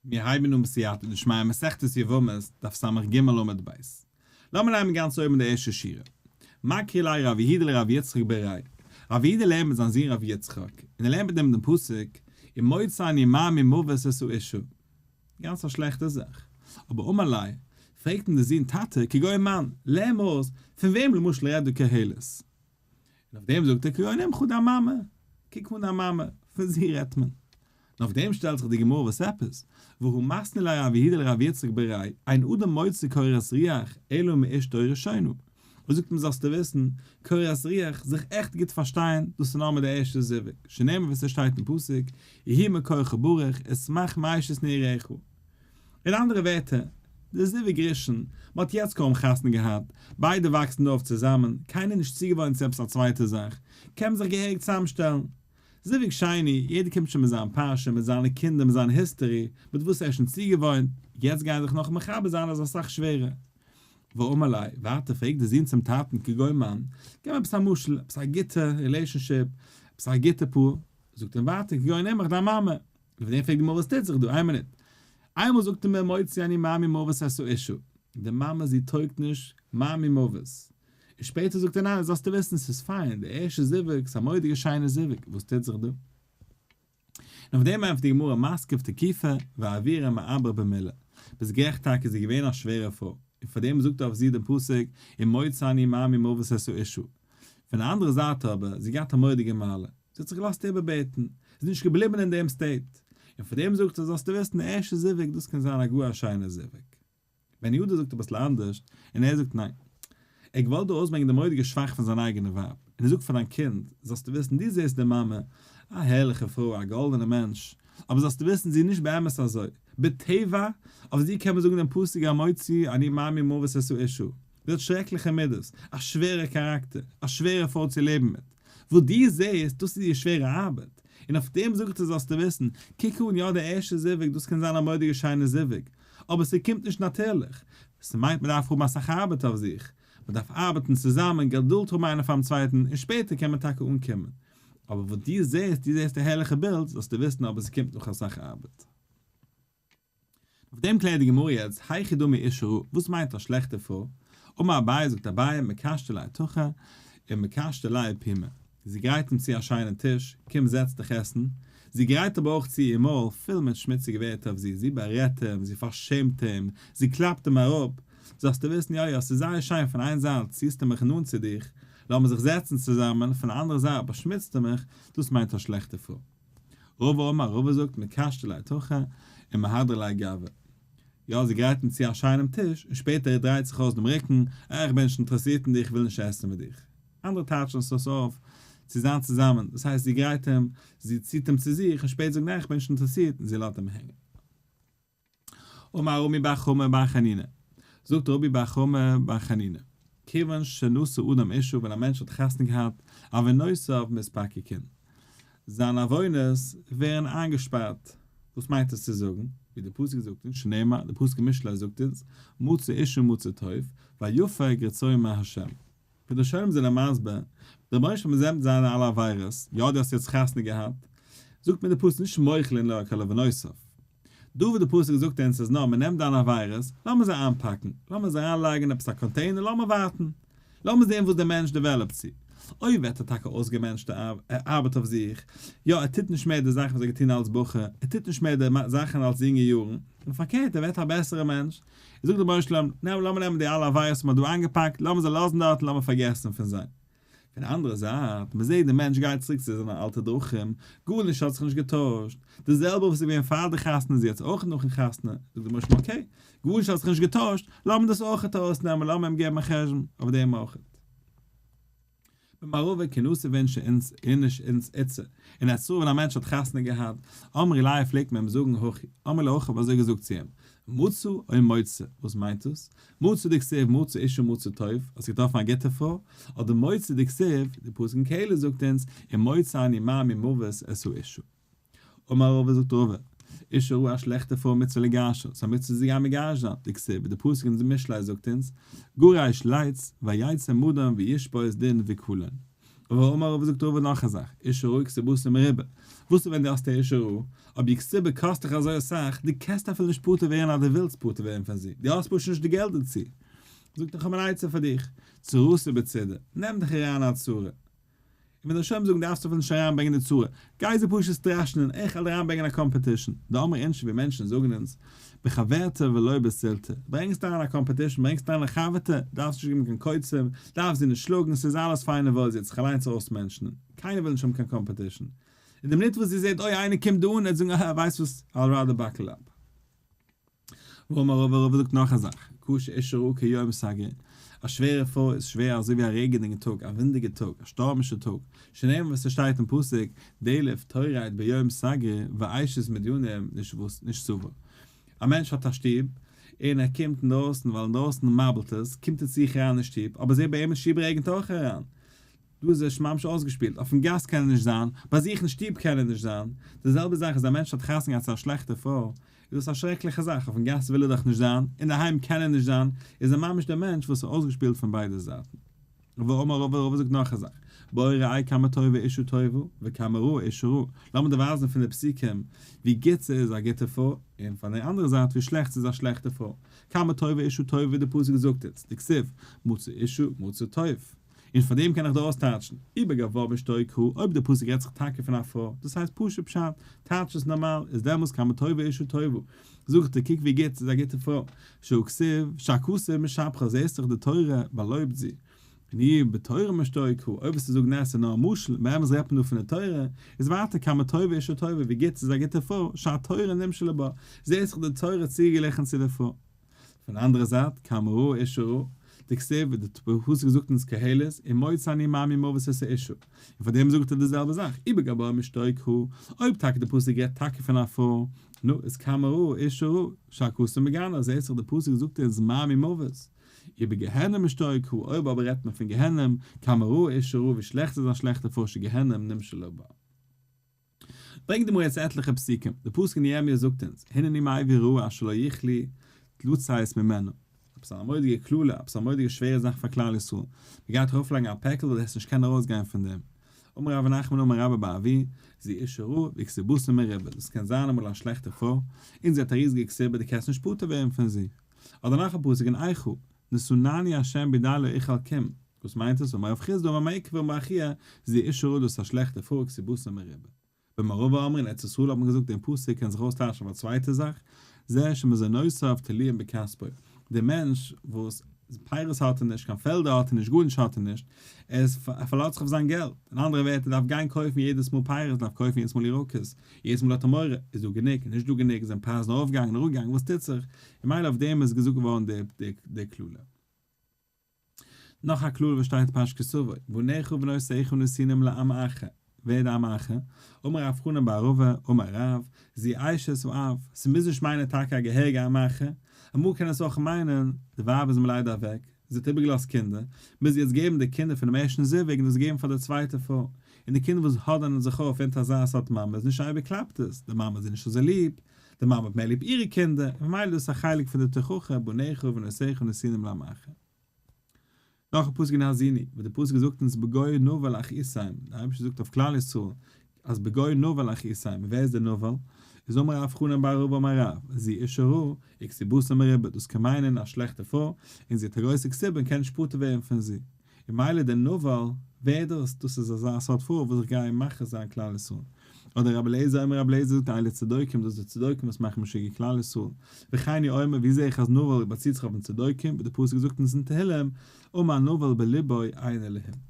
מיר הייבן אן בסייעתא דשמיא מסכת יבמות דף סג עמוד ב'. לאמיר נעמען גאנץ אויבן די ערשטע שורה. מקרי ליה רבי איהדא לרבי יצחק ב ר י. רבי איהדא לערנט מיט זיין זון רבי יצחק, און ער לערנט מיט אים דעם פסוק, און מוצאי ני מר מ מוות עשו אישה. גאנץ א שלעכטע זאך. אבער אמר ליה, פרעגט אים דער זון, טאטע, כגוי מאן, לערן מיר אויס, פון וועם למשל רעדט דא קהלת? און אויף דעם זאגט ער קרוינעם כו די מאמע, קוק פון דיין מאמע, פון זי רעדט מען. און אויף דעם שטעלט זיך די גמרא וואס עפעס, והוא מסנה לרב יהודה לרב יצחק ב ר, אין אדם מוציא קורת רוח אלא מאשתו ראשונה. ער זאגט אים זאלסטו וויסן, קורת רוח, זיך עכט גוט פארשטיין, דאס איז נאר מיט די ערשטע זיווג, שנאמר ווי ס'שטייט אין פסוק, יהי מקורך ברוך, אשמח מאיש את נעריך. אין אנדערע ווערטער, די זיווג ראשון, מען האט יעצט קוים חתונה געהאט, ביידע וואקסן דא אויף צוזאמען, קיינער איז נישט צוגעוואוינט צו עפעס א צווייטע זאך, קען מען זיך געהעריג צוזאמשטעלן. זיווג שני, יעדער קומט שוין מיט זיין פרשה, מיט זיינע קינדער, מיט זיין היסטערי, מיט וואס ער איז שוין צוגעוואוינט, יעצט גיין זיך נאך מחבר זיין איז אסאך שווערער. ואמר ליה, ווייטער פרעגט דער זון צום טאטן כגון מן, גיב מיר עפעס א משל, עפעס א גוטע רילעישאנשיפ, עפעס א גוטע פאר, זאגט אים ווייטער כגון אמך דיין מאמע. אויף דעם פרעגט די מאמע וואס טוט זיך דא? איין מינוט. איינמאל זאגט אים מוציא אני מאמי מוות האסט א אישו. די מאמע זי טויגט נישט, מאמי מוות. און שפעטער זאגט ער ניין זאלסטו וויסן ס'איז פיין, די ערשטע זיווג, ס'איז א מורא'דיגע שיינע זיווג, וואס טוט זיך דא? און אויף דעם ענטפערט די גמרא מסקב תקיפה ועבירה מעבר במילה, ביסט גערעכט טאקע זי איז געווען א שווערע פרוי, און פארדעם זאגט אויף זי דעם פסוק ומוציא אני מאמי מוות האסט א אישו, פון די אנדערע זייט אבער, זי האט געהאט א מורא'דיגע מעלה, זי האט זיך געלאזט איבערבעטן, זי איז נישט געבליבן אין דעם סטעיט, און פאר דעם זאגט ער, זאלסטו וויסן, די ערשטע זיווג, דאס קען זיין א גאר א שיינער זיווג. בן יהודה זאגט אביסל אנדערש, און ער זאגט, ניין, ער האט געוואלט דא אויסברענגען די מורא'דיגע שוואך פון זיין אייגענע ווייב, און ער זאגט פאר דיין קינד, זאלסטו וויסן, דו זעסט די מאמע, א הערליכע פרוי, א גאלדענע מענטש, אבער זאלסטו וויסן, זי איז נישט באמת אזוי, בטבע, אויף זי קען מען זאגן דעם פסוק המוציא אני מעמי מוות עשו אישה, זי האט שרעקליכע מידות, א שווערע כאראקטער, א שווערע פרוי צו לעבן מיט. וואס דו זעהסט, דאס איז איר שווערע ארבעט. און אויף דעם זאג איך דיר זאלסטו וויסן, קוק אן יא די ערשטע זיווג, דאס קען זיין א מורא'דיגע שיינע זיווג, אבער ס'קומט נישט נאטורליך. ס'מיינט מ'דארף האבן אסאך ארבעט אויף זיך, מ'דארף ארבעטן צוזאמען, געדולד האבן איינער פאר'ן צווייטן, און שפעטער קען מען טאקע אנקומען. אבער וואס דו זעהסט, דו זעהסט א הערליכע בילד, זאלסטו וויסן אבער ס'קומט נאך אסאך ארבעט. אויף דעם קלערט די גמרא יעצט, היכי דמי אישרא, וואס מיינט א שלעכטע פרוי? אמר אביי, זאגט אביי, מקשתה ליה תוכחה, און מקשתה ליה פימה. זי גרייט אים צו א שיינעם טיש, קום זעץ דיך עסן, זי גרייט אבער אויך צו איר מויל פול מיט שמוציגע ווערטער אויף זי, זי בארעדט אים, זי פארשעמט אים, זי קלאפט אים אראפ, זאלסטו וויסן יא יא, ס'איז זייער שיין, פון איין זייט ציהסטו מיך נאנט צו דיך, לאמיר זיך זעצן צוזאמען, פון די אנדערע זייט באשמוצטו מיך, דאס מיינט א שלעכטע פרוי. רובא אמר, רובא זאגט, מקשט עלי תוכחה, און מהדר עלי גאווה. יא, זי גרייטן צו א שיינעם טיש, און שפעטער ער דרייט זיך אויס דעם רוקן, אה, איך בין נישט אינטערעסירט אין דיך, איך וויל נישט עסן מיט דיך. אנדערע טייטשן עס אויס אויף, צו זיין צוזאמען, דאס הייסט זי גרייט אים, זי ציט אים צו זיך, און שפעטער זאגט ניין איך בין נישט אינטערעסירט, און זי לאזט אים הענגען. אמר רבי בר חמא בר חנינא, זאגט רבי בר חמא בר חנינא, כיוון שנשא אדם אישה ווען א מענטש האט חתונה געהאט, עוונותיו מספקקין, זיינע עוונות ווערן איינגעשפארט, וואס מיינט עס צו זאגן, ווי דער פסוק זאגט אונז, שנאמר, דער פסוק אין משלי זאגט אונז, מצא אישה מצא טוב, ויפה גרצוי מהשם. ווי די שונאים זענען מסביר, דער רבונו של עולם זעהט זיינע אלע עבירות, יא דו האסט יעצט חתונה געהאט, זאגט מיר דער פסוק נישט מוחלין אלא על כלו ונוסף, דא וואס דער פסוק זאגט אונז איז נאר מען נעמט דיינע עבירות, לאמיר זיי איינפאקן, לאמיר זיי אריין לייגן אין עפעס א קאנטעינער, לאמיר ווארטן, לאמיר זעהן וואס דער מענטש דעוועלאפט צו, אוי ווערט ער טאקע אויסגעמענטשט, ער ארבעט אויף זיך, יא ער טוט נישט מער די זאכן וואס ער האט געטון אלץ בחור, ער טוט נישט מער די זאכן אלץ יונגע יארן, און פארקערט ער ווערט א בעסערע מענטש, זאגט דער בעל שלום, ניין, לאמיר נעמען די אלע עבירות וואס מען האט דא איינגעפאקט, לאמיר זיי לאזן דארט און לאמיר פארגעסן פון זיי. פון די אנדערע זייט, מען זעט דער מענטש גייט צוריק צו זיינע אלטע דרכים, גארנישט האט זיך נישט געטוישט, די זעלבע וואס איז געווען פאר די חתונה איז יעצט אויך נאכן חתונה, זאגט דער בעל שלום אקעי, גארנישט האט זיך נישט געטוישט, לאמיר דאס אויך ארויסנעמען, לאמיר אים געבן א חשבון אויף דעם אויך. במערבֿה כּנוס איבערן שענס, איניש אונדז איצע, און אַז סרולן אַ מענטש האָט חתונה געהאַט, אמרי ליה פֿלעגט מען אים זאָגן הכי, אמר ליה כ'האָב אַזױ געזאָגט צו אים, מצא און מוצא, װאָס מײנט דאָס? מצא דכתיב מצא אשה מצא טוב, האָסט געטראָפֿן אַ גוטע פֿרױ, אָדער מוצא דכתיב, די פּסוק אין קהלת זאָגט אונדז, אם מוצא אני מה ממװת עשו אשה. אמר רבא זאגט רבא, איש הרע א שלעכטע פרוי מצוה לגרשה, ס'איז א מצוה זי א מגרש זיין, דכסיב, די פסוק אין משלי זאגט אונז, גורש לייץ, ויצא מדן וישפוס דין וקלון. אבער אמר רבא זאגט רבא נאך א זאך, איש הרע כסבותא מרובה, וואס איז ווען די האסט א אישה רעה, אויב איר כסבה קאסט דיך אזוי אסאך, די קענסט אפילו נישט פטור ווערן אז די ווילסט פטור ווערן פון זי, די האסט פשוט נישט די געלט דערצו, זאגט איך האב אן עצה פאר דיך, צרותא בצידה, נעם דיך אריין אין א צרה, און ווען די שומרים זאגן דארפסטו אויף אונז נישט אריינברענגען די צרה, גיי זיי פשוט סטראשענען, איך וועל אריינברענגען א קאמפעטישן, די ארמע אינטשעווי מענטשן זאגן אונז, בחברתא ולא בסלתא, ברענגסט אריין א קאמפעטישן, ברענגסט אריין א חבר'טע, דארפסט נישט געבן קיין קוצים, דארפסט זי נישט שלאגן, ס'איז אלעס פיין און וואויל, זי האט זיך אליינס אויס'מענטשנ'ען, קיינער וויל נישט האבן קיין קאמפעטישן, און די מינוט וואס זי זעט אוי איינער קומט דא אן, וועט זי זאגן אהה ווייסט וואס, I'll rather buckle up. ואמר רבא רבא זאגט נאך א זאך, קשה איש רעהו כיום סגר, א שווערע פרוי איז שווער אזוי ווי א רעגענדיגן טאג, א ווינדיגע טאג, א שטורמישע טאג, שנאמר ווי ס'שטייט אין פסוק, דעלף תורייט ביום סגר, ואישת מדיינים נישט סובר. א מענטש האט א שטוב, און ער קומט אינדרויסן ווייל אינדרויסן מאבלט עס, קומט ער צו זיך אריין אין שטוב, אבער זעה ביי אים אין שטוב רעגענט אויך אריין, דא איז ער ממש אויסגעשפילט, אויפן גאס קען ער נישט זיין, ביי זיך אין שטוב קען ער נישט זיין, די זעלבע זאך איז א מענטש האט חתונה געהאט צו א שלעכטע פרוי, איז דאס א שרעקליכע זאך, אויפן גאס וויל ער דאך נישט זיין, אינדערהיים קען ער נישט זיין, איז ער ממש דער מענטש וואס איז אויסגעשפילט פון ביידע זייטן. ואומר רבא, רבא זאגט נאך א זאך, בואו ראי' כמה טובה אישה טובה, וכמה רעה אישה רעה, לאמיר דיר ווייזן פון די פסוקים ווי גוט ס'איז א גוטע פרוי, און פון די אנדערע זייט ווי שלעכט ס'איז א שלעכטע פרוי, כמה טובה אישה טובה ווי די פסוק זאגט אונז, דכתיב, מצא אישה מצא טוב. און פאר דעם קען איך דא אויסטייטשן, ובגב ו אשתו כ, אויב די פסוק רעדט זיך טאקע פון א פרוי, דאס הייסט פשוט פשט, טייטש עס נארמאל, איז דעמאלס כמה טובה אישה טובה, זאגט ער קוק ווי גוט זי איז א גוטע פרוי, שא כסב, שא כסב משבחא זעהסט דאך די תורה באלויבט זי, און איר בתורה מאשתו כ, אויב וועסטו זאגן נעע ס'איז נאר א משל, באמת רעדט מען דא פון די תורה, איז ווייטער כמה טובה אישה טובה ווי גוט זי איז א גוטע פרוי, שא תורה נמשלה בה, זעהסט דאך די תורה צוגעגליכן צו די פרוי. פון אנדערע זייט, כאמרו אישרו, דכתיב ווי די פסוק זאגט אונז קהלת, אם מות אני מאמין מות עשה אישו, און פארדעם זאגט ער די זעלבע זאך, איבער גבוה משתוק' הוא, אויב טאקע די פסוק רעדט טאקע פון א פרוי, נו, איז כאמרו אישרו, שא כסא מגנא, זעהט זיך די פסוק זאגט אונז מאמין מות, איבער גיהנום משתוק' הוא, אויב אבער רעדט מען פון גיהנום, כאמרו אישרו, ווי שלעכט איז א שלעכטע פושע גיהנום נמשל לבה. ברענגט די מועצת עטליכע פסוקים, די פסוק אין ירמיה זאגט אונז, הנני מעביר רעה אשר לא יכלי לצאת ממנה, עפעס א מורא'דיגע קללה, עפעס א מורא'דיגע שווערע זאך פאר כלל ישראל, מען גייט ארויף לייגן א פעקל דו וועסט נישט קענען ארויס גיין פון דעם, אמר רבי נחמן אמר רבא בר אבי, זי אישה רעה וכסיבותיה מרובה, דאס קען זיין אמאל א שלעכטע פרוי, און זי האט א ריזיגע כסיבה דו קענסט נישט פטור ווערן פון זי, אדער נאך א פסוק אין איכה, נשׂאני ה' בידי לא איכל קים, וואס מיינט עס? אמר רב חיסדא אמר מאיר קבר באחיה, זי ע איש רע דאס א שלעכטע פארק סיבותא מרובה. במערבא אמרין ארץ ישראל האט מען געזאגט דעם פסוק קען זיך אויסטייטשן אויף א צווייטע זאך, זה שמזונותיו תלויים בכספו, דער מענטש וואס פירות האט ער נישט, קיין פעלדער האט ער נישט, גארנישט האט ער נישט, ער איז ער פארלאזט זיך אויף זיין געלט, אין אנדערע ווערטער ער דארף גיין קויפן יעדעס מאל פירות, דארף קויפן יעדעס מאל ירקות, יעדעס מאל האט ער מורא, איז דא גענוג, איז נישט דא גענוג, זענען פרייזן ארויפגעגאנגען, אראפגעגאנגען, וואס טוט זיך, און מילא אויף דעם איז געזאגט געווארן די קללה. נאך א קללה וואס שטייט פרש כסווי, בניך ובנות אחיך נסינים לעם אחר, ווער איז די עם אחר? אמר רב חנן בר ערובה, אמר רב, זי אשת ואב, ס'מוז נישט מיינען טאקע א געהעריגע עם אחר, אמאל קען עס אויך מיינען, די ווייב איז מלידה אוועק, זי האט איבערגעלאזט קינדער, מוז זי יעצט געבן די קינדער פון דעם ערשטן זיווג און דאס געבן פאר די צווייטע פרוי, און די קינדער וואס האדענען זיך אויף אונטער אזא סארט מאמע איז נישט אייביג קלאפט עס, די מאמע האט זיי נישט אזוי ליב, די מאמע האט מער ליב אירע קינדער, ממילא דאס איז א חלק פון די תוכחה בניך ונשיך ונשינים לעמך. נאכן פסוק אין האזיני, וואס די פסוק זאגט אונז בגוי נאוה לאחיסיים, די אייבערשטער זאגט אויף כלל ישראל, אז בגוי נבל אחי סיימא, ווער איז דער נבל? איז אמר רב חנן בר רבא אמר רב, זי אשה רעה, איקסיבוסא מריבה, דאס קען מיינען א שלעכטע פרוי, און זי האט א גרויסע איקסיבא און קען נישט פטור ווערן פון זי. און מילא דער נבל, ווער איז דאס? דאס איז אזא סארט פרוי וואס איך גיי מכעיס זיין כלל ישראל. אדער רבי אליעזר אמר רבי אליעזר זאגט אייליע צדוקים, דאס די צדוקים וואס מאכן משוגע כלל ישראל. וכאני אומר, ווי זע איך אז נבל באציט זיך אויף די צדוקים, ווי די פסוק זאגט אונז אין תהילים, אמר נבל בליבו איין אלהים.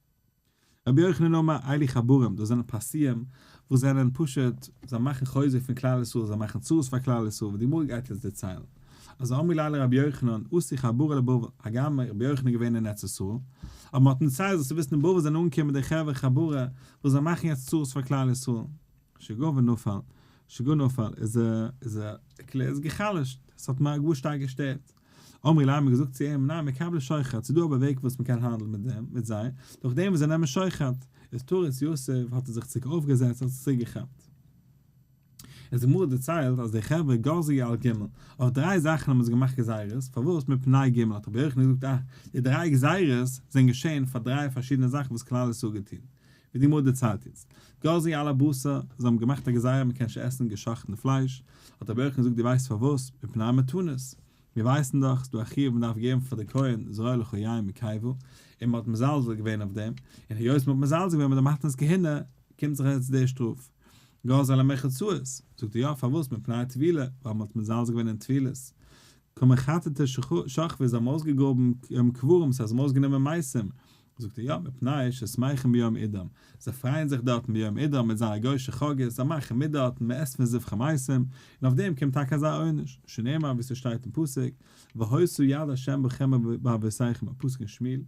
רבי יוחנן אומר אלי חבורים, דאס זענען פרסיים וואס זענען פשוט, זיי מאכן חוזק פון כלל ישראל, זיי מאכן צרות פאר כלל ישראל, ווי די גמרא גייט אונז דערציילן, אז אמר לי אלי רבי יוחנן עשי חבורה לבבל, הגם רבי יוחנן איז געווען אין ארץ ישראל, אבער מ'האט אים דערציילט אז צו וויסן אין בבל זענען אנגעקומען די חברה חבורה וואס זיי מאכן יעצט צרות פאר כלל ישראל. שגעון ונפל, שגעון נפל, איז ער איז ער איז גע'חלש'ט, ס'האט אים גאר שטארק געשטערט. אמרי להם האט געזאגט צו אים ניין מקבלי שוחד ס'איז דא אבער וועג וואס מ'קען האנדלן מיט דעם מיט זיי דורך דעם וואס זיי נעמען שוחד איז תורת יוסף האט ער זיך צוריק אויפגעזעצט האט זיך צוריקגעכאפט איז די גמרא דערציילט אז די חברה גזי על ג' אויף דריי זאכן האבן זיי געמאכט גזירות פארוואס מפני ג' האט רבי יוחנן געזאגט אה די דריי גזירות זענען געשען פאר דריי פארשידענע זאכן וואס כלל ישראל האט געטון ווי די גמרא דערציילט יעצט, גזי על הבשר, זיי האבן געמאכט א גזירה מען קען נישט עסן געשאכטן פלייש, האט רבי יוחנן געזאגט דו ווייסט פארוואס, מפני המתנות, מיר ווייסן דאך ס'איז דא א חיוב מען דארף געבן פאר די כהן זרעו לכל יין מקייבו, און מען האט מזלזל געווען אויף דעם, און היות מען האט מזלזל געווען מיט די מתנת כהונה, קומט זיך יעצט די שטראף. גזי על המחצאות, זאגט ער יא פארוואס, מפני הטבילה, ווייל מען האט מזלזל געווען אין טבילות, כמחצתו שכבו זיי האבן אויסגעגראבן קברים ס'הייסט זיי האבן אויסגענומען מייסים, זאגט ער יא מפני ששמחים ביום אידם, זיי פרייען זיך דארטן ביום אידם מיט זייערע גוישע חגאות, זיי מאכן מיט דארטן, מען עסט פון זבחי מעשים, און אויף דעם קומט טאקע אזא עונש, שנאמר ווי ס'שטייט אין פסוק, והוסו יד השם בכם ובאבותיכם, א פסוק אין שמואל.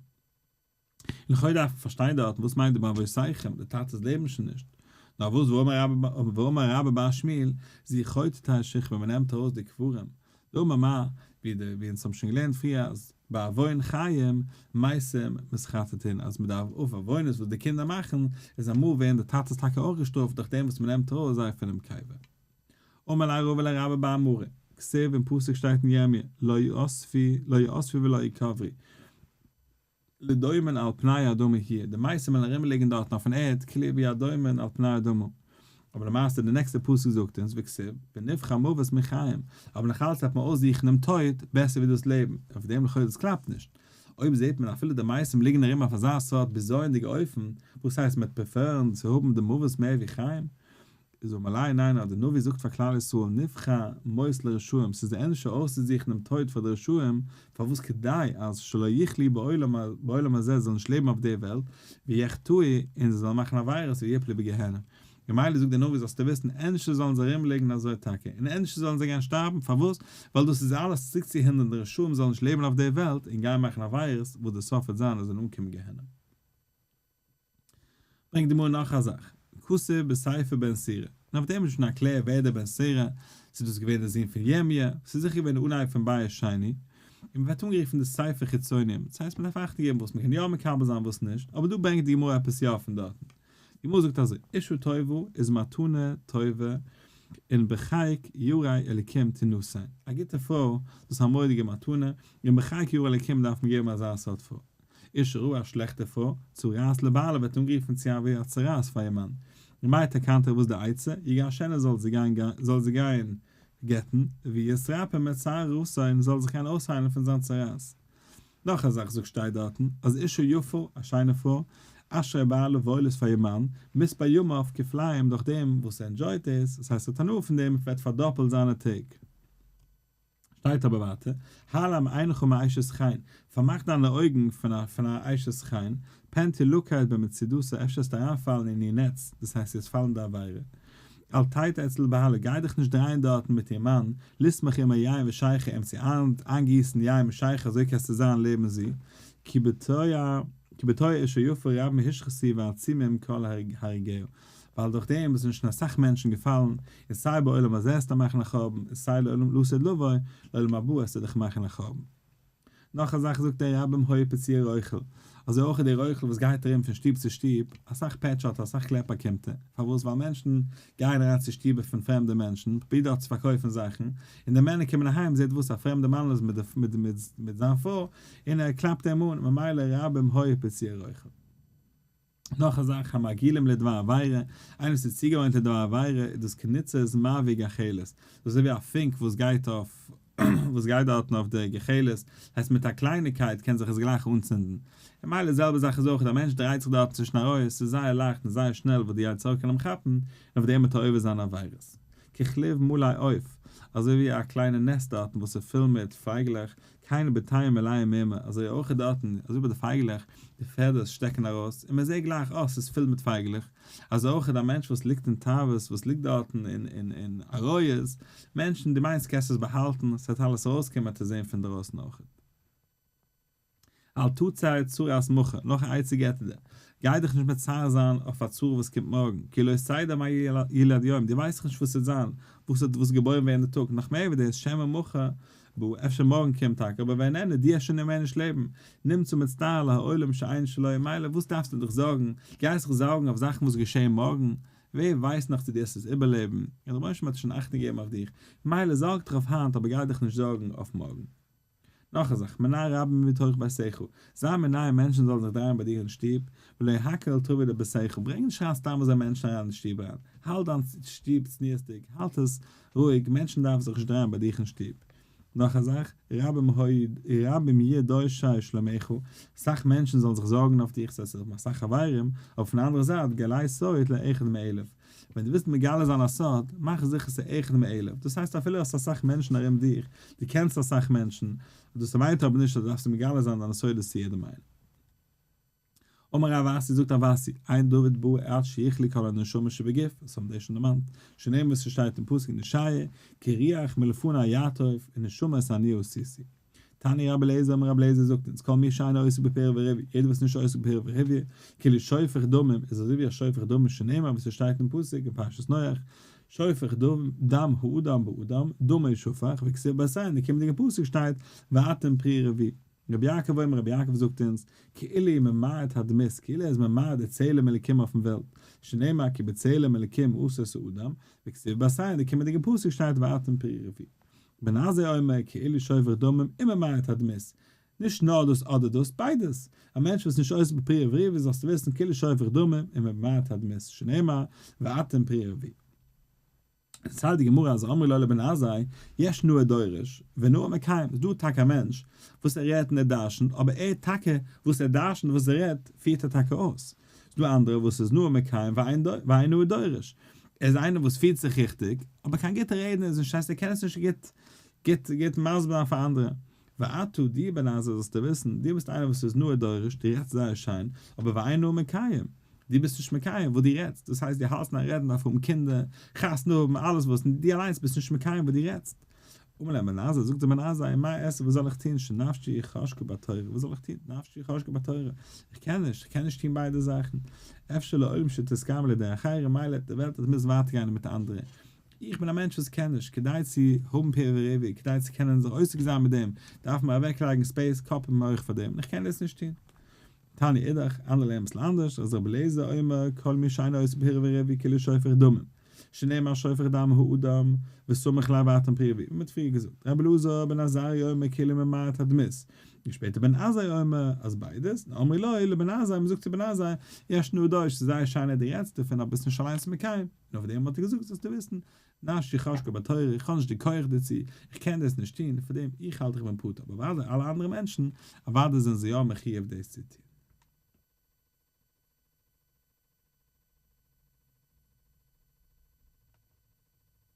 און לכאו' דארף מען פארשטיין דארטן וואס מיינט די באבותיכם, די טאטעס לעבן שוין נישט, נאר וואס ואמר רבא באר שמואל, זי חוטאת השכבה, מען נעמט ארויס די קברים דוגמא מ, ווי די ווי אונז האבן שוין געלערנט פריער אז ביי עוון חיים מעשים מסחטטין אז מען דארף אויף עוונות וואס די קינדער מאכן איז אמאל ווערן די טאטעס טאקע אויך געשטראפט דורך דעם וואס מען נעמט ארויס זיי פונעם קבר. אמר לה רב אל הרב אבא אמרי, כסדר אין פסוק שטייט אין ירמיה לא יאספי לא יאספי ולא יקברי, לדומין על פני האדמה הי', די מייסטער מעלן ארום ליגען דארטן אויפן ערד קלער ווי א דומין על פני האדמה, אבער למעשה די נעקסטע פסוק זאגט אונז וכסב ונבחר מוות מחיים, אבער נאך אלץ דארף מען אויסזוכן דעם טויט בעסער ווי דאס לעבן, אויף דעם לכאורה דאס קלאפט נישט, אויב זעט מען אפילו די מייסטער ליגען ארום אויף אזא סארט בזיוניגע אופן, וואס הייסט מען וועט פרעפערן צו האבן די מוות מער ווי חיים? איז אום אליין ניין אז די נביא זאגט פאר כלל ישראל נבחר מות לרשעים ס'איז די ענדערשע אויסצוזוכן דעם טויט פאר די רשעים פארוואס כדי אז שלא יחלי בעולם הזה זאל נישט לעבן אויף די וועלט ויחטאו און זיי זאלן מאכן עבירות ויפלו בגיהנום ממילא זאגט די נביא זאלסטו וויסן ענדערשער זאלן זיי ארום ליגן אזוי טאקע און ענדערשער זאלן זיי גיין שטארבן פארוואס ווייל דאס איז אלעס צוריק צו הינדערן די רשעים זאלן נישט לעבן אויף די וועלט און גיין מאכן עבירות וואס די סוף וועט זיין אז זיי זאלן אנקומען גיהנום. ברענגט די גמרא נאך א זאך, כסא בסייפא בן סירא, און אויף דעם איז נישט מקלע ווער דער בן סירא, צו דאס איז געווען דער זון פון ירמיה, וואס איז זיכער געווען דער אנהייב פון בית שני, און מ'ווערט אנגערופן די סייפא חיצונים, דאס הייסט מ'דארף אכטונג געבן וואס מ'קען יא מקבל זיין וואס נישט, אבער דא ברענגט די גמרא עפעס יא פון דארטן, די גמרא זאגט אזוי, אישא טובה איז מתנה טובה און בחיק יראי אלקים תינשאין, א גוטע פרוי דאס איז א מורא'דיגע מתנה, און בחיק יראי אלקים דארף מען געבן אזא סארט פרוי, איש הרה א שלעכטע פרוי צרעת לבעלה וועט אנגערופן צו א ווער א צרעת פאר איר מאן, ממילא טעקענט ער וואס די עצה, איר גיי שענער זאל זי גיין זאל זי גיין גט'ן, ויתרפא מצער רעותה און ער זאל זיך קענען אויסהיילן פון זיין צרעת. נאך א זאך זאגט שטייט דארטן אז אישה יפה, א שיינע פרוי, אשרי בעלה וואויל עס פאר איר מאן, מספר ימיו כפליים דורך דעם וואס ער ענדזשויט עס, עס הייסט ער האט הנאה פון דעם, וועט פארדאפלט זיינע טעג. שטייט אבער ווייטער, העלם עינך מאשת חיל, פארמאך דיינע אויגן פון א אשת חיל, פענט איר לאקערהייט במצידותה, אפשר העסטו אריינפאלן אין איר נעץ, דאס הייסט דו העסט פאלן אין די עבירה, אל תיט אצל לבעלה, גיי דיך נישט דרייען דארטן מיט איר מאן, לסמוך עמער יין ושיכר, אים צו איינגיסן יין מיט שיכר אזוי קענסטו זיין לעבן זי, כי בתוה אשה יפה רב מהשחת היא ועצי מהם כל הרגהו. ווייל דורך דעם איז שוין אסאך מענטשן געפאלן, און סיי בעולם הזה עס דיך מאכן א חורבן, און סיי לעולם לא עשה לבו, לעולם הבא עס דיך מאכן א חורבן. נאך א זאך זאגט דער רבי ם הוי פציע רויכל, אזוי אויך איז דער רויכל וואס גייט ארום פון שטוב צו שטוב, אסאך פעטשערט ער, אסאך קלעפ באקומט ער, פארוואס? ווייל מענטשן גייען אריין צו שטובער פון פרעמדע מענטשן, פרובירט דארט צו פארקויפן זאכן, און די מענער קומען אהיים, זעט וואס א פרעמדע מנהל איז מיט זיין פרוי, און ער קלאפט אים אן, ממילא רבי ם הוי פציע רויכל. נאך א זאך, המגעילים לדבר עבירה, איינער וואס איז צוגעוואוינט לדבר עבירה, איז דאס קניצער'ס מאווי גחלת, דאס איז אזוי ווי א פונק וואס גייט אויף וואס גייט דארטן אויף די גחלת, הייסט מיט א קלייניקייט קען זיך עס גלייך אנצינדן, ממילא די זעלבע זאך איז אויך, א מענטש דרייט זיך דארטן צווישן א רויעך, עס איז זייער לייכט און זייער שנעל וואס די יצר הרע קען אים כאפן, און אויף דעם וועט ער עובר זיין עבירות. ככליו מלא עוף, אזוי ווי א קליינע נעסט דארטן וואס איז פול מיט פייגלעך, קיין בתיים מלאים מימה, אזוי אויך איז דארטן, אזוי ביי די פייגלעך, די פעדערס שטעקן ארויס, און מען זעט גלייך, אה, ס'איז פול מיט פייגלעך, אזוי אויך איז א מענטש וואס ליגט אין תאוות, וואס ליגט דארטן אין, אין, אין עריות, מענטשן, דו מיינסט קענסט עס באהאלטן, ס'וועט אלעס ארויסקומען, עטס זען פון דרויסן אויך. אל תצר צרת מחה, נאך א עצה געט ער דיר, גיי דיך נישט מצער זיין אויף א צרה וואס קומט מארגן, כי לא תדע מה ילד יום, דו ווייסט נישט וואס ס'וועט זיין, וואס האט וואס געבוירן ווערן די טאג, נאך מער ווי דאס, שמא מחה בא, אפשר מארגן קומט טאקע, אבער ווען ענני דיע שוין און מער נישט לעבן, נמצא מצטער על העולם שאין שלו, מילא וואס דארפסטו דיך זארגן, גייסט זיך זארגן אויף זאכן וואס געשעהן מארגן, ווער ווייסט נאך צו דו עסט עס איבערלעבן, און רבונו של עולם האט שוין אכטונג געגעבן אויף דיך, מילא זארג דיך אויף היינט אבער גיי דיך נישט זארגן אויף מארגן. נאך א זאך, מנין רבים מביא תוכחה בשכל, זיי מנין מענטשן זאלן זיך דרייען ביי דיר אין שטוב, ולא הקל על טובי' אלא בשכל, ברענג נישט אריין סתם אזוי מענטשן אריין אין שטוב אריין, האלט דיין שטוב צניעות'דיג, האלט עס רואיג, מענטשן דארפן זיך נישט דרייען ביי דיך אין שטוב. נאך א זאך, רבים יהיה דורשי שלומך, אסאך מענטשן זאלן זיך זארגן אויף דיך, ס'הייסט עס האבן אסאך חברים, אויפן אנדערע זייט גלית סועית לאחד מאלף, ווען דו ווילסט מגלה זיין א סוד, מאך זיכער ס'איז אחד מאלף, דאס הייסט אפילו האסט אסאך מענטשן ארום דיך, דו קענסט אסאך מענטשן, דאס מיינט אבער נישט אז דו דארפסט מגלה זיין דיינע סודות צו יעדעם איינעם. אמר רב אסי זאגט רב אסי, עיין דוד בא עת שיכלי כל הנשמה שבגוף, עס האבן דאס שוין דערמאנט, שנאמר וואס ס'שטייט אין פסוק אין ישעיה, כי ריח מלפני יעטוף, און נשמה איז עניו סיסי. תני רבי אליעזר אמר רבי אליעזר זאגט אונז כל מי שאינו עוסק בפירה וריבי יעדער וואס איז נישט עוסק בפירה וריבי כאילו שופך דמים איז אזוי ווי א שופך דמים שנאמר ווי ס'שטייט אין פסוק אין פרשת נח שופך דם דם האדם באדם דמו ישפך וכסיל בעשה אין די קומענדיגע פסוק שטייט ואתם פרי רבי רבי יעקב אומר רבי יעקב זאגט אונז כאילו איז ממעט הדמות כאילו ער איז ממעט די צלם אלקים אויפן וועלט שנאמר כי בצלם אלקים עשה ס'אדם וכסיל בעשה אין די קומענדיגע פסוק שטייט ואתם פרי רבי בין הזה אומר כאילו שופך דמים אינו מעיד הדמית, נישט נאר דאס אדער דאס, ביידעס, א מענטש וואס איז נישט עוסק בפרי עברי ווי זאלסטו וויסן כאילו שופך דמים אינו מעיד הדמית שנאמר ואתם פרי עברי. און סא די גמרא אז אמרי לו לבן הזה יש נאה דורש ונאה מקיים איז דא טאקע א מענטש וואס ער רעדט און ער דרשנ'ט אבער ער טאקע וואס ער דרשנ'ט וואס ער רעדט פירט ער טאקע אויס, ס'איז דא אנדערע וואס איז נאר מקיים ואינו הוא דורש. ער איז איינער וואס פירט זיך ריכטיג, אבער קיין גוטע רעדנער איז נישט, הייסט ער קען עס נישט גוט גוט מסביר זיין פאר אנדערע. ואתו דיר בן עזר זאלסטו וויסן, דו ביסט איינער וואס איז נאר הוא דורש, דו רעדסט זייער שיין, אבער ואינו הוא מקיים, דו ביסט נישט מקיים וואס דו רעדסט, דאס הייסט דו האלטסט אין א רעדן מ'דארף האבן קינדער, חתונה האבן, אלעס וואס, דו אליינס ביסט נישט מקיים וואס דו רעדסט. אמר להם בן עזה, זאגט אים בן עזה, און מה אעשה וואס זאל איך טון, שנפשי חשקה בתורה, וואס זאל איך טון, נפשי חשקה בתורה, איך קען נישט, איך קען נישט טון ביידע זאכן, אפשר לעולם שתסכם לי דרך ארעא, מילא האט די וועלט אז מ'מוז ווייטער גיין מיט אנדערע, איך בין א מענטש וואס קען נישט, כדי צו האבן פירות וריבי, כדי צו קענען זיך עוסק זיין מיט דעם, דארף מען אוועקלייגן ספעיס, קאפ און מח פאר דעם, און איך קען דאס נישט טון. תניא אידך, אנדערע לערנען אביסל אנדערש, אז רבי אליעזר אומר כל מי שאינו עושה פרי ורבי כאילו שופך דמים, שנאמר שופך דם הוא אדם, וסומך לאו אטן פרי ווי מען האט פריער געזאגט, רבי אלעזר בן עזריה אומר כאילו ממעט הדמות, און שפעטער בן עזאי אומר אז ביידעס, און אמרי ליה לבן עזאי מען זאגט צו בן עזאי, יש נדוש, ס'איז זייער שיין אז דו רעדסט דערפון אבער ביסט נישט אליינס מקיים, און אויף דעם האט ער געזאגט זאלסטו וויסן נשי חשקה בתורה, איך האב נישט די כח דערצו, איך קען דאס נישט טון, פאר דעם איך האלט איך בין פטור, אבער אוודאי אלע אנדערע מענטשן, אוודאי זענען זיי יא מחיוב דאס צו טון.